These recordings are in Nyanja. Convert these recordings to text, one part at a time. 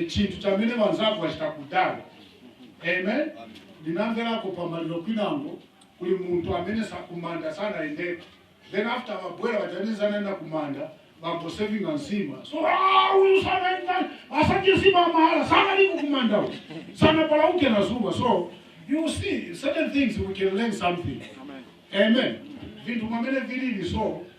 chinthu chamene banzako bachita kudala amen ndinamvelako pamaliro kwinango kuli muntu amene sa kumanda sanayendeko then after babwera bachanisa anaenda kumanda bambo sevinga nsima so ah, uyu sanaenda asadye nsima mahala sanaliko kumanda uyu sanapalauke na zuba so you see certain things we can learn something amen vintu mwamene vilili so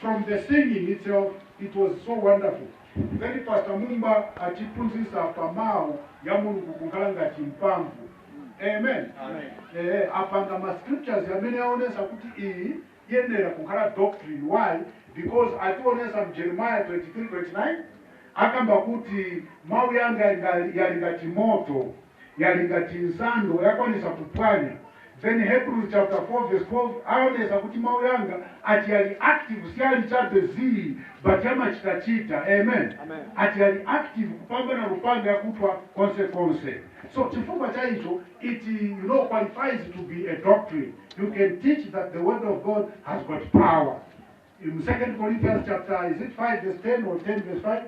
from the singing itself it was so wonderful ngati pastor mumba atiphunzisa pa mau ya mulungu kunkhala ngati mpamvu amen ee apanga ma scriptures amene aonesa kuti iyi yenera kunkhala doctrine why because ationesa mu jeremiah 23 29 akamba kuti mau yanga yali ngati moto yali ngati nsando yakwanisa kupwanya then Hebrews chapter 4 verse 12 aonesa kuti mau yanga ati yali active siyali chabe zii but yamachita chita amen ati yali active kupambana lupanga yakuthwa konse konse so chifukwa chaicho it you know qualifies to be a doctrine you can teach that the word of God has got power. Mu 2 Corinthians chapter is it 5 verse 10 or 10 verse 5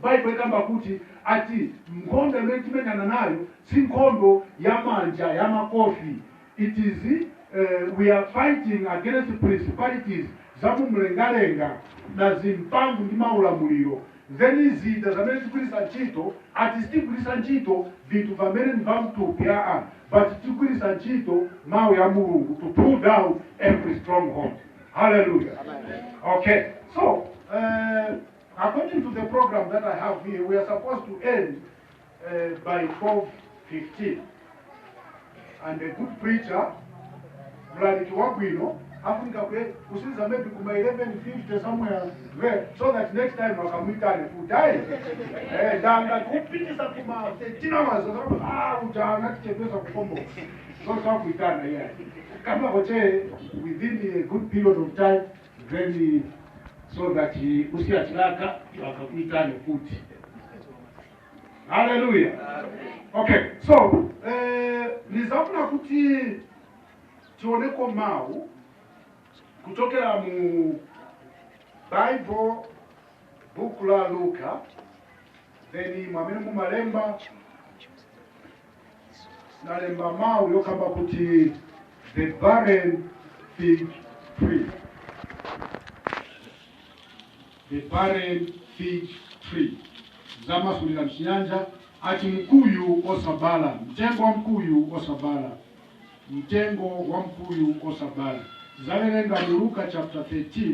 Bible ikamba kuti ati nkhondo imene timenyana nayo si nkhondo ya manja ya makofi it is uh, we are fighting against principalities za mumlengalenga na zimphamvu ndi maulamuliro then zida zamene tigwiritsa ntchito ati sitigwiritsa ntchito vinthu vamene ni vamtupi aa but tigwiritsa ntchito mawu ya mulungu to pull down every stronghold Hallelujah. Okay, so uh, according to the program that I have here, we are supposed to end uh, by 12.15. And a good preacher, Mlaliki Wabwino, afunika kule- kusiza maybe kuma 11.50 somewhere there, so that next time wakamwitane kudai eh, danga kupitisa kuma 13 hours, ah, ujana kichepesa kukomboka. so akakuitana kamba hoche within a good period of time then so that uh, usiya chilaka bakakuitane futi haleluya okay so eh, nizafuna kuti tioneko mawu kuchokera mu bible buku la luka then mwamene mumalemba nalemba mawu yokamba kuti the barren fig tree the barren fig tree zamasulira mchinyanja ati mkuyu osabala mtengo wa mkuyu osabala mtengo wa mkuyu osabala zawerenga mu luka chapter 13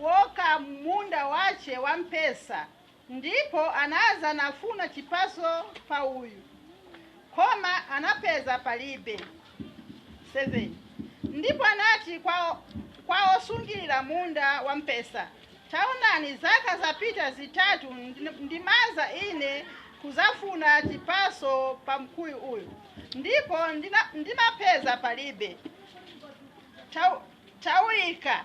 woka m'munda wace wamphesa, ndipo anaza nafuna cipaso pa uyu, koma anapeza palibe. 7 ndipo anati kwa, kwa osungirira munda wampesa, taonani, zaka zapita zitatu ndi- ndimaza ine kuzafuna cipaso pa mkuyu uyu, ndipo ndina- ndimapeza palibe. Tau- tauika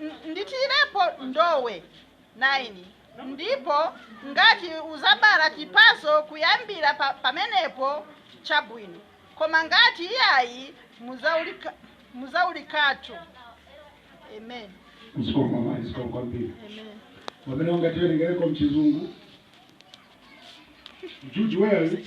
N- ndithirepo ndowe 9 ndipo ngati uzabala chipaso kuyambira pa, pamenepo chabwino koma ngati iyayi muzauli- muzaulikatu amen kusoma maisika kwambiri amen pamene ungatiwerengereko mchizungu juji weli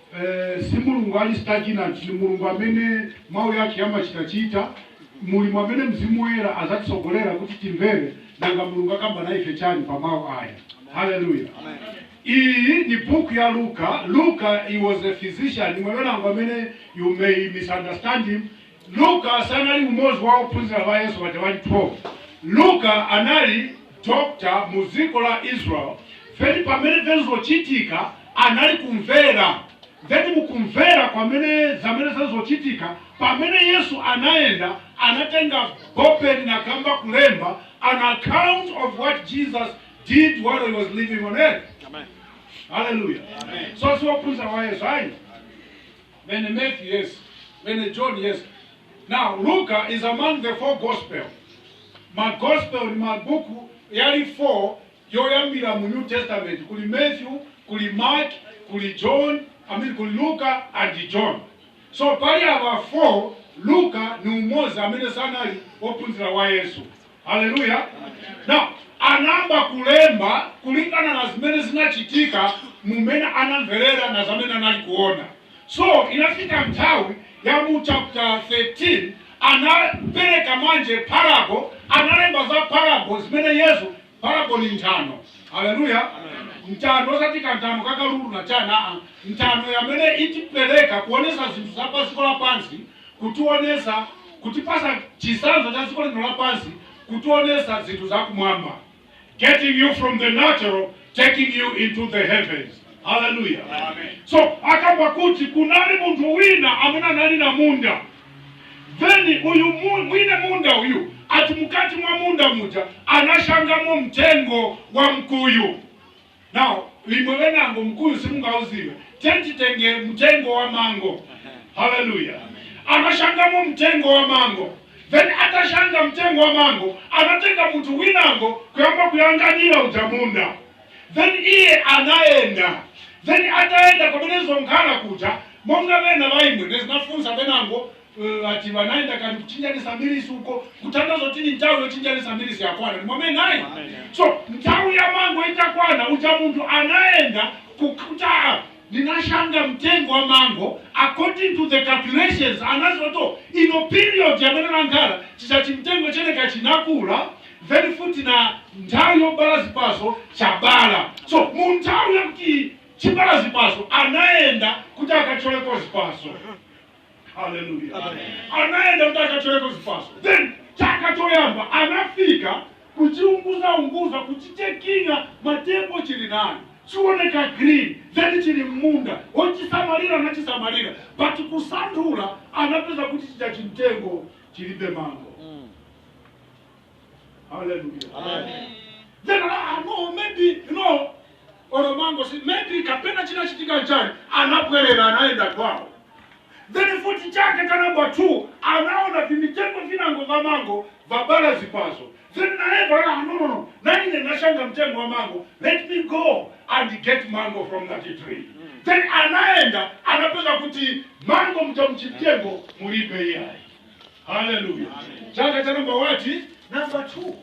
Eh, si Mulungu ali stagnant, ni Mulungu amene mau yake yamachitachita mulimu amene mzimu woyera azatisogolera kuti timvere nanga mulungu akamba na ife chani pa mau aya haleluya iyi ni buku ya luka luka he was a physician mwewenango amene you may misunderstand him Luka sanali umodzi wa ophunzira ba Yesu baja bali 12. Luka anali doctor mu ziko la Israel, then pamene zenzochitika anali kumvera, then mukumvera kwamene zamene zenzochitika pamene Yesu anayenda anatenga bopeni na kamba kulemba an account of what Jesus did while he was living on earth. Amen. Hallelujah. Amen. So si ophunzira wa Yesu ayi. Then Matthew, yes. Then John, yes. Now, Luka is among the four gospel. Ma gospel ni mabuku yali four yoyambira mu New Testament. Kuli Matthew, kuli Mark, kuli John, I mean kuli Luka and John. So pali aba four, Luka ni umozi amene sanali ophunzira wa Yesu. haleluya now anayamba kulemba kulingana na zimene zinachitika mumene anamverera na zamene anali kuona so inafika nthawi ya mu chapter 13 anapereka manje parabo analemba za parabo zimene yesu parabo ni nthano haleluya nthano osati kanthano kakalulu na chana aa nthano yamene itipereka kuonesa zinthu za padziko lapansi kutionesa, kutipasa chisanzo cha dziko lapansi, kutionesa zinthu za kumwamba, getting you from the natural taking you into the heavens. Hallelujah. Amen. So akamba kuti kunali munthu wina amene anali na munda then uyu mu- mwine munda uyu ati mukati mwa munda muja anashangamo mtengo wa mkuyu Now, imwe benangu mkuyu simungauziwe. Tiyeni titenge mtengo wa mango. Hallelujah. Anashangamo mtengo wa mango. Then atashanga mtengo wa mango, anatenga munthu winango kuyamba kuyanganira uja munda. Then iye anaenda. Then ataenda pamene zonkhala kuja monga bena baimwe nezinafunsa benango ngati banayenda kali kuchinjanisa milisi uko kutanthauza kuti ni nthawi yochinjanisa milisi yakwana ndimwamene naye so nthawi ya mango itakwana uja munthu anayenda kukuta ndinashanga mtengo wa mango according to the calculations anazoto ino period yamene nankhala chicha chimtengo cheneka chinakula then futi na nthawi yobala zipaso chabala so mu nthawi yakuti chibala zipaso anayenda kuti akacholeko zipaso haleluya anayenda kuti akatoleko zipaso then chaka choyamba anafika kuchiunguzaunguza kuchichekinga matepo chili nayo chioneka green then chili mmunda ochisamalira anachisamalira but kusanthula anapeza kuti chija chimtengo chilibe mango Hallelujah. Amen. Then I, I know maybe you know olo mango si maybe kapena chinachitika chani anabwerera anaenda kwawo then futi chaka cha namba 2 anaona vimitengo vinangu va mango vabala zipaso then naye bala no no no nanine nashanga mtengo wa mango let me go and get mango from that tree then anaenda anapeza kuti mango muchimtengo mulibe iyayi Hallelujah. Chaka cha number what? Number two.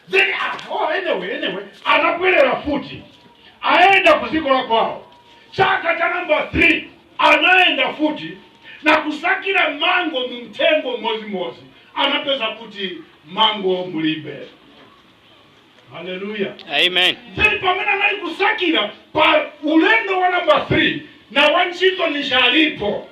Then, ah, oh, anyway, anyway, anabwerera futi. Aenda kuziko la kwao. Chaka cha number three. Anaenda futi na kusakira mango mumtengo mozi mozi. Anapeza kuti mango mulibe. Hallelujah. Amen. Then pamene anali kusakira pa ulendo wa number three na wantchito ninshi alipo.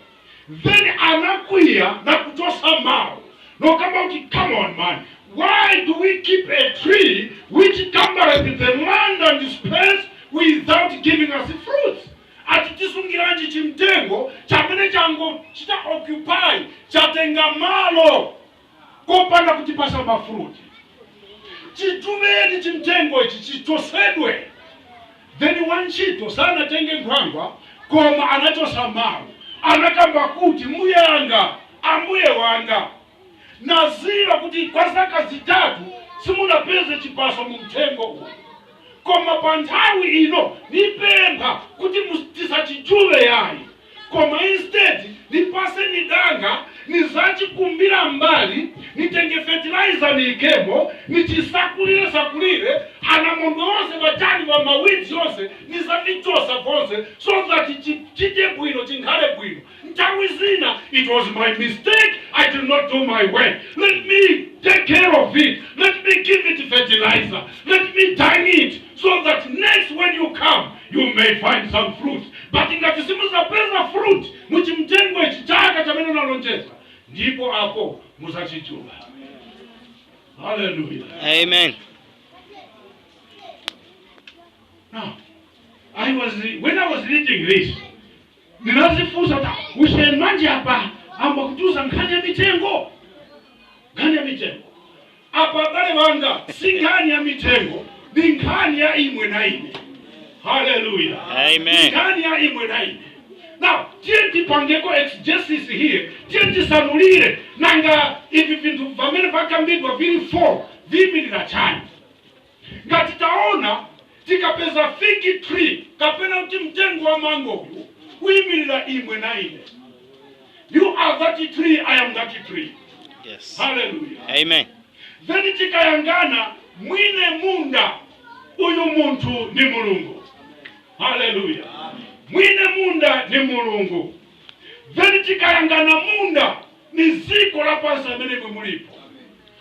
then anakwiya nakuchosa mau nokamba kuti come on man why do we keep a tree which cumbereth the land and space without giving us fruits ati tisungiranji chimtengo chamene changochita occupy chatenga malo kopanda kutipasa mafruti chijubeni chimtengo ichi chichosedwe then wantchito sanatenge nkhwangwa koma anachosa mawu anakamba kuti mbuyanga ambuye wanga naziwa kuti kwa zaka zitatu simunapeze chipaso mu mtengo uyu koma pa nthawi ino nipempha kuti mus- tisachijube yayi koma instead nipaseni danga nizachikumbira mbali nitenge fertilizer niikemo nichisakulire sakulire anamondwe onse vachani va mawidzi onse nizavichosa vonse so that chi- chite bwino chinkhale bwino nthawi zina it was my mistake i did not do my work let me take care of it let me give it fertilizer let me dung it so that next when you come You may find some fruit. But ngati simuzapeza fruit muchimtengo ichi chaka chamene nalonjeza ndipo apo muzachijuba. Hallelujah. Amen. Now, I was when I was reading this, ndinazifunsa ta kuseni manje apa amba kutuza nkhani ya mitengo nkhani ya mitengo apa abale banga si nkhani ya mitengo ni nkhani ya imwe na ine haleluya Amen. nkhani ya imwe na ine now tiye tipangeko exegesis here tiye tisanulire nanga ivi vinthu vamene vakambidwa vili 4 viimirira chani ngati taona tikapeza fig tree kapena kuti mtengo wa mango uyu uimirira imwe na ine you are that tree i am that tree Yes. hallelujah Amen. then tikayangana mwine munda uyu muntu ni mulungu haleluya mwine munda ni mulungu then tikayangana munda ni ziko lapansi amene imwe mulipo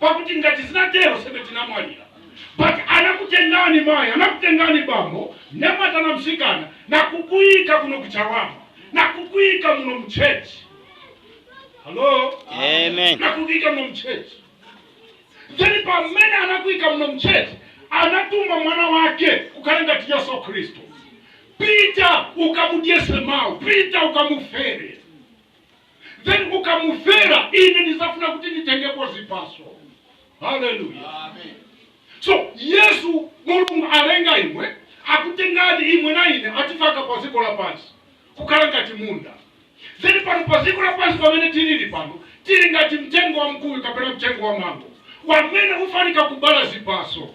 pakuti ngati zinatero sebe tinamwalira but anakutengani mayi anakutengani bambo mnyamata na msikana nakukuyika kuno kuchawama nakukuyika muno mchechi halo Amen. nakukuyika muno mchechi then pamene anakuyika muno mchechi anatuma mwana wake wokhala Yesu khristu pita ukamudyetse mawu pita ukamufere then ukamufera ine ndizafuna kuti nditengepo zipaso haleluya so yesu mulungu alenga imwe akutengani imwe na ine atifaka pa dziko lapansi kukhala ngati munda then pano pa dziko lapansi pamene tilili pano tili ngati mtengo wa mkuyu kapena mtengo wa mango wamene ufanika kubala zipaso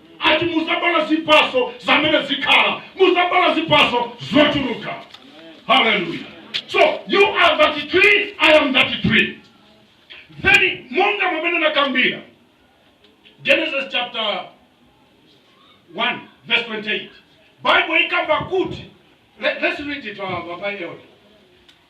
ati muzabala zipaso zamene zikhala muzabala zipaso zochuluka haleluya so you are that tree i am that tree then monga mwamene nakambira genesis chapter 1 verse 28 bible ikamba kuti let, let's read it uh, by elder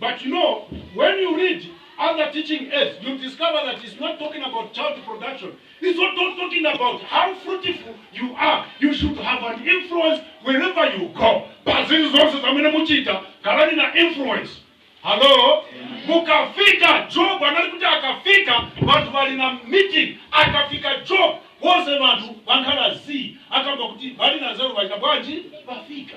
But you know, when you read other teaching aids, you discover that it's not talking about child production. It's not talking about how fruitful you are. You should have an influence wherever you go. But zinthu zonse zamene muchita khalani na influence. Hello? Mukafika Job anali kuti akafika vantu vali na meeting akafika Job wonse vantu vankhala zii akamba kuti vali na zero vachita bwanji vafika.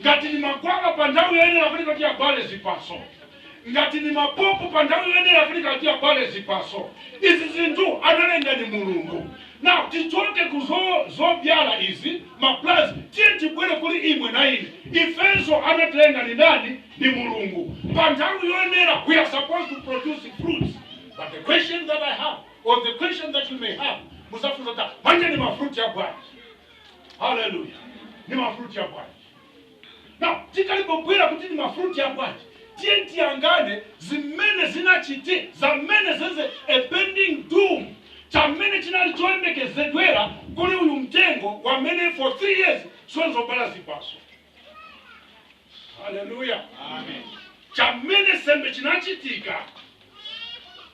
ngati ni magwaba pa nthawi yoyenera ifika kuti ibale zipaso ngati ni mapopo pa nthawi yoyenera ifika kuti ibale zipaso izi zinthu analenga ni mulungu now tichoke ku zo- zobyala izi maplants tiye tibwere kuli imwe na ine ifenso anatilenga ni ndani ni mulungu pa nthawi yoyenera we are supposed to produce fruits but the question that i have or the question that you may have muzafunsa ati manje ni mafruti ya bwanji haleluya ni mafruti ya bwanji na tikalipobwera kuti ni mafruti ya bwanji tiye tiyangane zimene zinachite zamene zenze a pending doom chamene chinali choyembekezedwera kuli uyu mtengo wamene for three years sonzobala zipaso haleluya chamene sembe chinachitika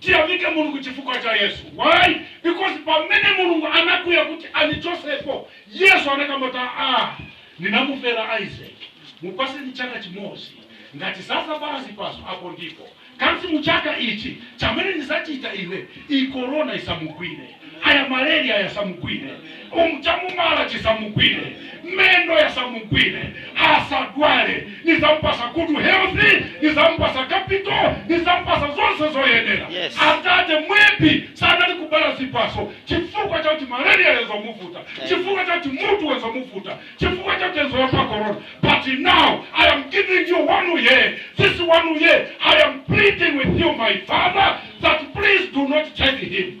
Tiyamike mulungu chifukwa cha yesu why because pamene mulungu anakwiya kuti anichosepo yesu anakamba kuti aa ninamufela isaac mupaseni chaka chimozi ngati sazabala zipaso apo ndipo kansi muchaka ichi chamene nizachita ine ii corona isamugwile. kaya malaria yasamugwire um, chamumala chisamugwire mendo yasamugwire asadwale nizampasa good healthy nizampasa capital nizampasa zonse zoyenera Yes. atate maybe sanali kubala zipaso chifukwa chakuti malaria yenzomuvuta chifukwa chakuti mutu wenzomuvuta chifukwa chakuti enzoyopa corona but now i am giving you one year this one year i am pleading with you my father that please do not take him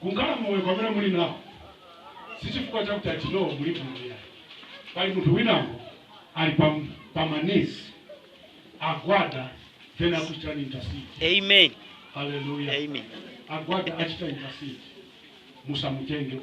Kunkhala moyo kwamene muli nao sichifukwa chakuti ati no muli bwino yayi. Pali munthu winangu ali pa pa ma knees agwada then akuchitani intercede. Amen. Hallelujah. Amen. Agwada achita intercede. Musamutenge uyu.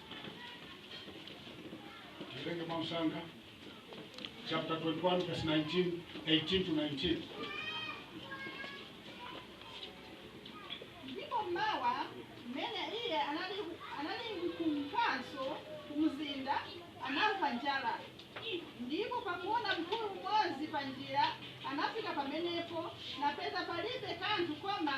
Tiwerenge mwamsanga chapter 21 verse 19 18 to 19 ndipo mmawa mmene iye anali anali kumkanso ku mzinda anamva njala ndipo pakuona mkuyu umodzi pa njira anafika pamenepo napeza palibe kanthu koma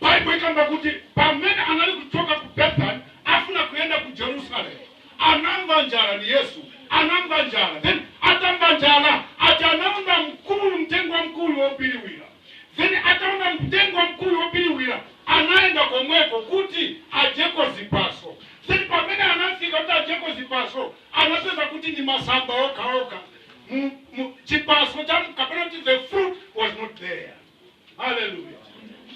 Baibo ikamba kuti pamene anali kuchoka ku Bethany afuna kuyenda ku Jerusalem, anamva njala, ni Yesu anamva njala, then atamva njala ati anaona mkuyu, mtengo wa mkuyu wobiriwira, then ataona mtengo wa mkuyu wobiriwira anayenda komweko kuti ajeko zipaso, then pamene anafika kuti ajeko zipaso anapeza kuti ni masamba okhaokha, Mu- mu- chipaso cha kapena kuti the fruit was not there. haleluya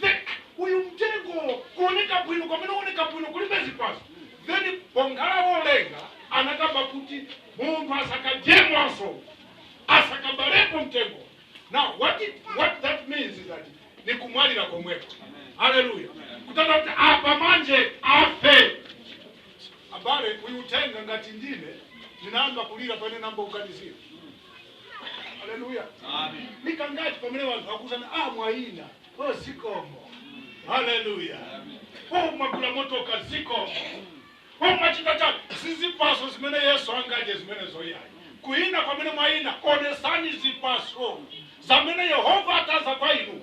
then uyu mtengo kuoneka bwino kwamene uoneka bwino kulibe zipaso then ponkhala wolenga anakamba kuti munthu asakadyemwanso asakabalepo mtengo now what, it, what that means is that ni kumwalira komweko haleluya kutanthauza kuti apa manje afe abale uyu mtengo ngati ndine ninayamba kulira pamene namba ukanizira Haleluya. Nikangati pamene vanthu vakuuzani ah mwaina oh zikomo. Haleluya. Oh mwagula motoka zikomo. Oh mwachita chani sizipaso zimene Yesu angadye zimenezo yayi. Kuina kwamene mwaina onesani zipaso zamene Yehova ataza kwa inu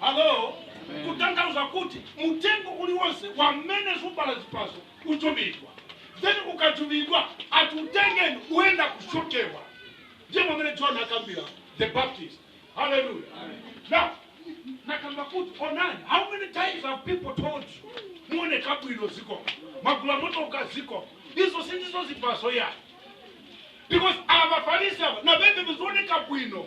Alo, kutanthauza kuti mutengo uli wonse wamene subala zipaso ujubidwa. Then ukajubidwa ati utengeni uenda kushokewa. Ndiye mwamene John akambila the Baptist. Hallelujah. Now, nakamba kuti onani how many times have people told you muoneka bwino zikomo mwagula motoka zikomo izo sindizo zipaso yayi because ava farisi ava na beve venzooneka bwino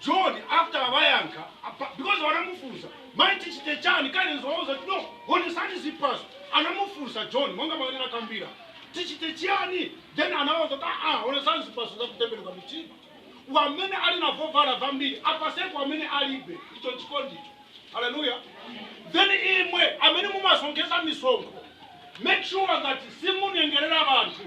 John after wayankha apa- because wanamufunsa mai tichite chani kainzo wauza kuti no onesani zipaso anamufunsa john monga mwamene anakambira tichite chiyani then anawauza kuti aa onesani zipaso zakutembenuka mitima wamene ali na vovala vambiri apaseko amene alibe icho chikondicho haleluya then imwe amene mumasonkhesa misonkho make sure that simunyengerera vanthu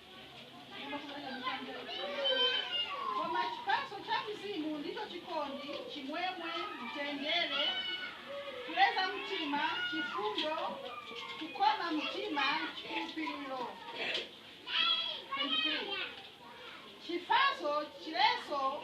Koma chipatso cha Mzimu ndicho chikondi, chimwemwe, mtendere, kuleza mtima, chifundo, kukoma mtima, chikhulupiriro. 23. Chifaso chileso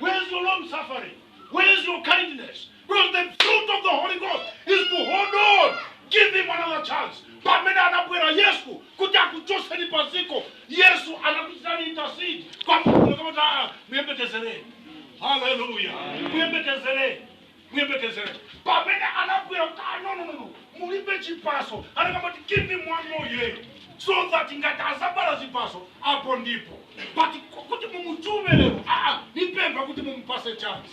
Where is your long suffering? Where is your kindness? Because the fruit of the Holy Ghost is to hold on. Give him another chance. Pamene anabwera Yesu kuti akuchotseni paziko, Yesu anakuchitani intercede kwa Mulungu kuti ah, muyembekezere. Hallelujah. Muyembekezere. muyembekezere pamene anabwera kuti "Ah, no, no, no, no, mulibe chipaso anakamba kuti give him one more year so that ngati azabala zipaso apo ndipo but ku- kuti mumuchume lero aa nipempha kuti mumupase chance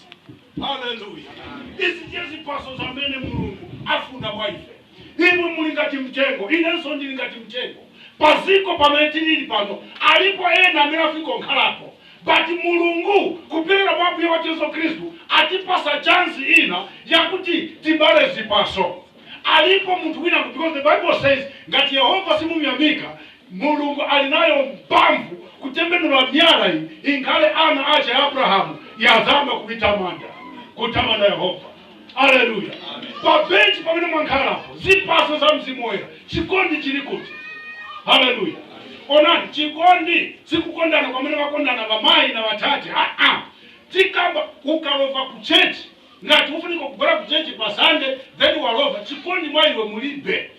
haleluya izi ndiye zipaso zamene mulungu afuna mwa ife Imwe muli ngati mtengo, inenso ndili ngati mtengo. Pa ziko pamene tilili pano, alipo ena amene afiko nkhalapo. But Mulungu kupyolera mwa Ambuye wathu Yesu Khristu atipasa chance ina yakuti tibale zipaso. Alipo munthu wina ku because the Bible says ngati Yehova simumyamika, Mulungu ali nayo mpamvu kutembenula myala iyi inkhale ana ache a Abrahamu yazamba kumutamanda, kutamanda Yehova. aleluya pa benchi pamene mwankhalapo zipaso za mzimu woyera chikondi chili kuti haleluya onani chikondi sikukondana kwamene vakondana vamayi na vatate aa tikamba ukalova ku chechi ngati ufunika kubwera ku chechi pa sande then walova chikondi mwa iwe mulibe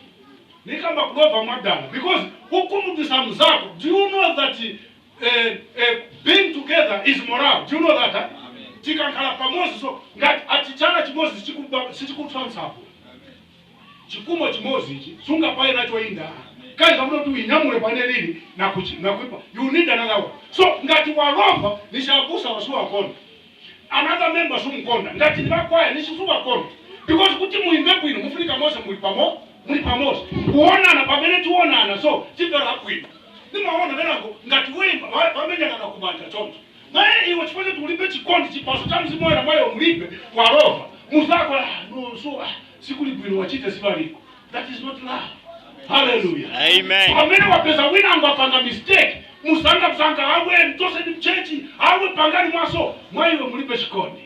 nikamba kulova mwadala because ukhumudwisa mzako do you know that eh, eh, being together is morale do you know that eh? tikankhala pamodzi so ngati ati chala chimodzi sichikuba- sichikutsa nsabwe chikumo chimodzi ichi sungapaye nacho inda kazi akuti kuti uinyamule pane lili nakuchi- nakuipaya you need another one so ngati walova nishi abusa suwakonda another member sumukonda ngati ni wakwaya nishi suwakonda because kuti muimbe bwino mufunika mose muli pamo muli pamose kuonana pamene tionana so chimvera bwino nimaona venangu ngati waimba wamenyana na kumanja choncho naye iwe chifukwa choti ulibe chikondi chipaso cha mzimu woyera mwa iwe mulibe walova muzako ah, no, so ah, sikuli bwino wachita sibaliko That is not love. Hallelujah. Amen. pamene wapeza wina angapange mistake musanga musanga awe mchoseni mchechi awe pangani mwaso mwa iwe mulibe chikondi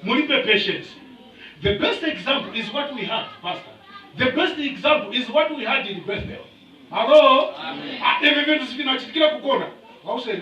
mulibe patience the best example is what we had pastor the best example is what we had in bethel hello Ah, ivi vintu sivinachitikira kukona wauseni